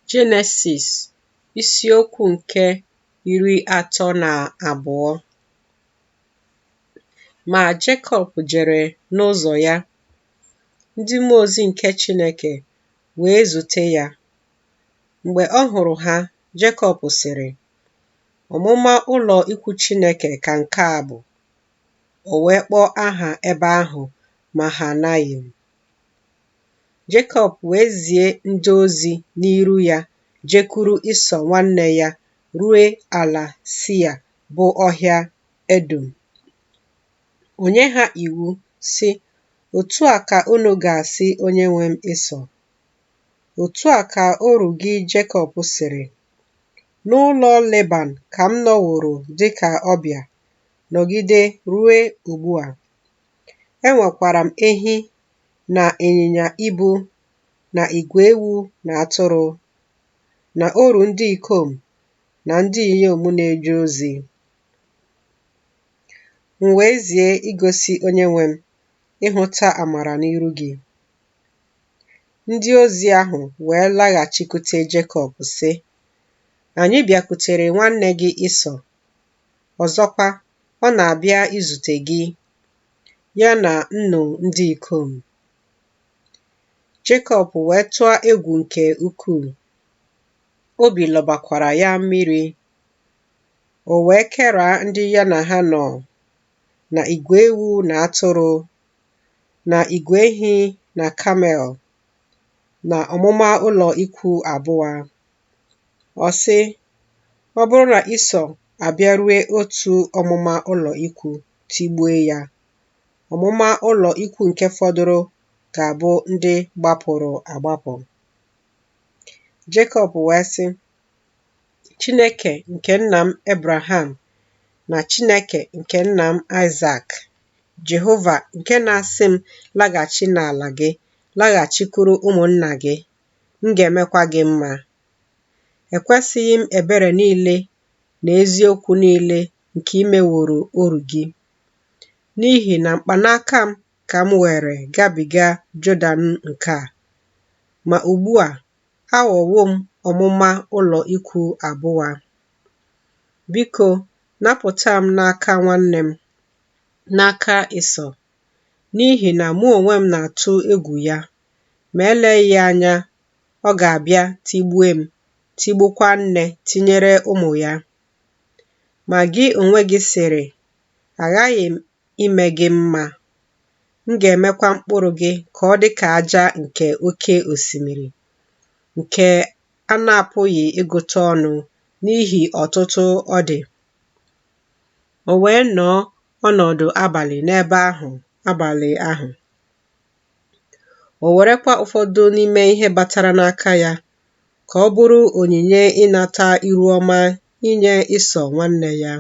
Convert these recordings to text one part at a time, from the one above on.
Jenesis isiokwu nke iri atọ na abụọ Ma Jekọb jere n'ụzọ ya, ndị mmụọ ozi nke Chineke wee zute ya. Mgbe ọ hụrụ ha, Jekọb sịrị, Ọmụma ụlọ ikwu Chineke ka nke a bụ. O wee kpọọ aha ebe ahụ Mahanayim. Jekọb wee zie ndị ozi n'iru ya jekwuru Ịsọ nwanne ya rue ala Sia bụ ọhịa Edọm. O nye ha iwu, sị, Otu a ka unu ga-asị onyenwe m Ịsọ, Otu a ka oru gị Jekọb sịrị, N'ụlọ Leban ka m nọworo dị ka ọbịa, nọgide rue ugbu a. Enwekwara m ehi na ịnyịnya ibu na igwe ewu na atụrụ, na oru ndị ikom na ndị inyom na-eje ozi. M wee zie igosi onyenwe m ịhụta amara n'iru gị. Ndị ozi ahụ wee laghachikwute Jekọb, sị, Anyị bịakwutere nwanne gị Ịsọ, ọzọkwa, ọ na-abịa izute gị. ya na nnụ ndị ikom. Jekọb wee tụa egwu nke ukwuu, obi lọbakwara ya mmiri. O wee keraa ndị ya na ha nọ na igwe ewu na atụrụ na igwe ehi na kamel na ọmụma ụlọ ikwu abụa. Ọ sị, Ọ bụrụ na Ịsọ abịarue otu ọmụma ụlọ ikwu tigbue ya, ọmụma ụlọ ikwu nke fọdụrụ ga-abụ ndị gbapụrụ agbapụ. Jekọb wee sị, Chineke nke nna m Ebraham na Chineke nke nna m Aịzak, Jehova nke na-asị m laghachi n'ala gị, laghachikwuru ụmụnna gị, m ga-emekwa gị mma. Ekwesịghị m ebere niile na eziokwu niile nke i meworo oru gị, n'ihi na mkpanaka m ka m were gabiga Jọdan nke a. Ma ugbu a, aghọwo m ọmụma ụlọ ikwu abụa. Biko, napụta m n'aka nwanne m, n'aka Ịsọ, n'ihi na mụ onwe m na-atụ egwu ya, ma eleghị anya ọ ga-abịa tigbue m, tigbukwa nne tinyere ụmụ ya. Ma gị onwe gị sịrị, Aghaghị m ime gị mma, m ga-emekwa mkpụrụ gị ka ọ dị ka aja nke oke osimiri, nke a na-apụghị ịgụta ọnụ n'ihi ọtụtụ ọ dị. O wee nọọ ọnọdụ abalị n'ebe ahụ abalị ahụ. O werekwa ụfọdụ n'ime ihe batara n'aka ya ka ọ bụrụ onyinye ịnata iru ọma inye Ịsọ nwanne ya.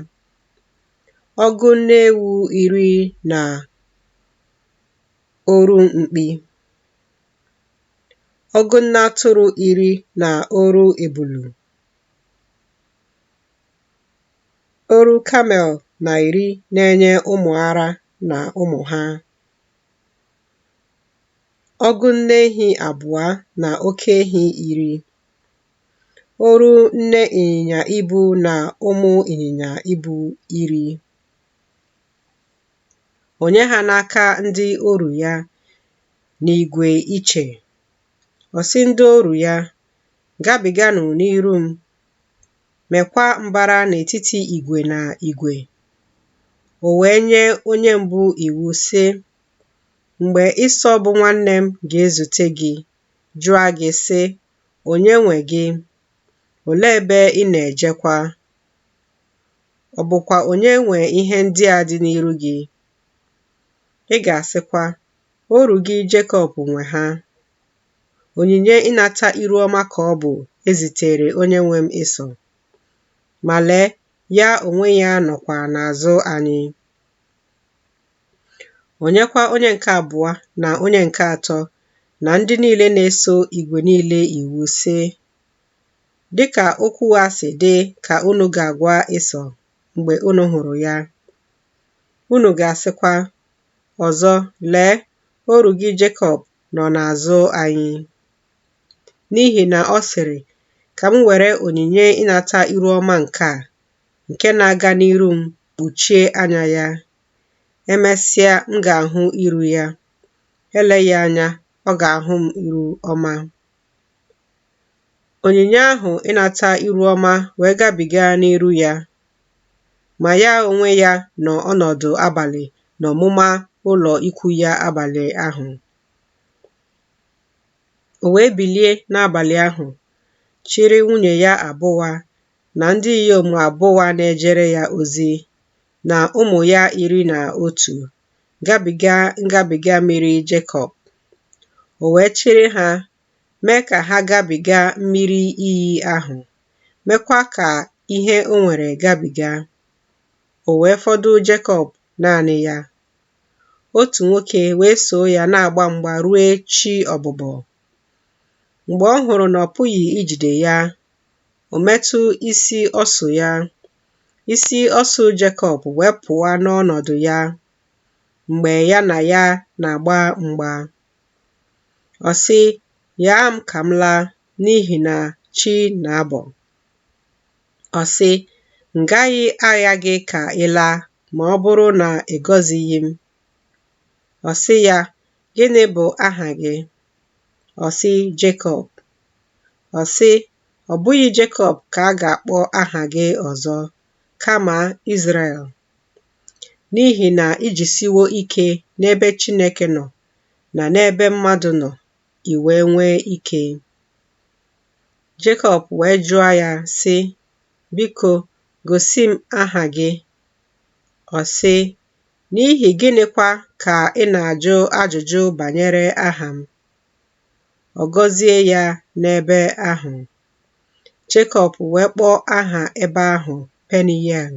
Ọgụ nne ewu iri na oru mkpi. Ọgụ nne atụrụ iri na oru ebulu. Oru kamel na iri na-enye ụmụ ara na ụmụ ha. ọgụ nne ehi abụọ na oke ehi iri oru nne ịnyịnya ibu na ụmụ ịnyịnya ibu iri o nye ha n'aka ndị oru ya n'ìgwè iche ọ sị ndị oru ya gabiganụ n'iru m mekwa mbara n'etiti igwe na igwe. O wee nye onye mbụ iwu, sị, Mgbe Ịsọ bụ nwanne m ga-ezute gị, jụọ gị, sị, Onye nwe gị? Olee ebe ị na-ejekwa? Ọ bụkwa onye nwe ihe ndị a dị n'iru gị? Ị ga-asịkwa, Oru gị Jekọb nwe ha. onyinye ịnata iru ọma ka ọ bụ ezitere onye nwe m Ịsọ. Ma lee, ya onwe ya nọkwa n'azụ anyị. O nyekwa onye nke abụọ na onye nke atọ na ndị niile na-eso igwe niile iwu sị, Dịka okwu a si dị ka unu ga-agwa Ịsọ mgbe unu hụrụ ya. Unu ga-asịkwa, Ọzọ, lee, oru gị Jekọb nọ n'azụ anyị. N'ihi na ọ sịrị, Ka m were onyinye ịnata iru ọma nke a, nke na-aga n'iru m, kpuchie anya ya. Emesịa, m ga-ahụ iru ya. Eleghị anya, ọ ga-ahụ m iru ọma. Onyinye ahụ ịnata iru ọma wee gabiga n'iru ya, ma ya onwe ya nọ ọnọdụ abalị n'ọmụma ụlọ ikwu ya abalị ahụ. O wee bilie n'abalị ahụ, chịrị nwunye ya abụa na ndị inyom abụa na-ejere ya ozi na ụmụ ya iri na otu gabiga ngabiga mmiri Jabọk. O wee chịrị ha mee ka ha gabiga mmiri iyi ahụ, mekwa ka ihe o nwere gabiga. O wee fọdụ Jekọb naanị ya. Otu nwoke wee soo ya na-agba mgba rue chi ọbụbọ. Mgbe ọ hụrụ na ọ pụghị ijide ya, o metụ isi ọsụ ya. Isi ọsụ Jekọb wee pụa n'ọnọdụ ya mgbe ya na ya na-agba mgba. Ọ sị, Ghaa m ka m laa n'ihi na chi na-abọ. Ọ sị, M gaghị agha gị ka ị laa ma ọ bụrụ na ị gọzighị m. Ọ sị ya, Gịnị bụ aha gị? Ọ sị, Jekọb. Ọ sị, Ọ bụghị Jekọb ka a ga-akpọ aha gị ọzọ, kama Izrel n'ihi na i jisiwo ike n'ebe Chineke nọ na n'ebe mmadụ nọ, i wee nwee ike. Jekọb wee jụọ ya, sị, Biko, gosi m aha gị. Ọ sị, N'ihi gịnịkwa ka ị na-ajụ ajụjụ banyere aha m? Ọ gọzie ya n'ebe ahụ. Jekọb wee kpọọ aha ebe ahụ Peniel,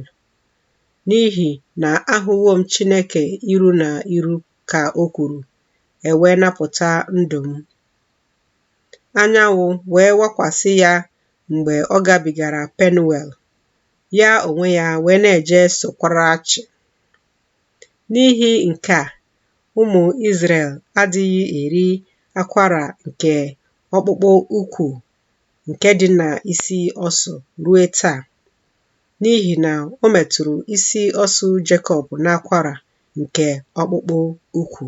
n'ihi na ahụwo m Chineke iru na iru, ka o kwuru, e wee napụta ndụ m. Anyanwụ wee wakwasị ya mgbe ọ gabigara Penuel, ya onwe ya wee na-eje sokwara achị. N'ihi nke a, ụmụ Izrel adịghị eri akwara nke ọkpụkpụ ukwu nke dị n'isi ọsụ ruo taa. n'ihi na o metụrụ isi ọsụ Jekọb n'akwara nke ọkpụkpụ ukwu.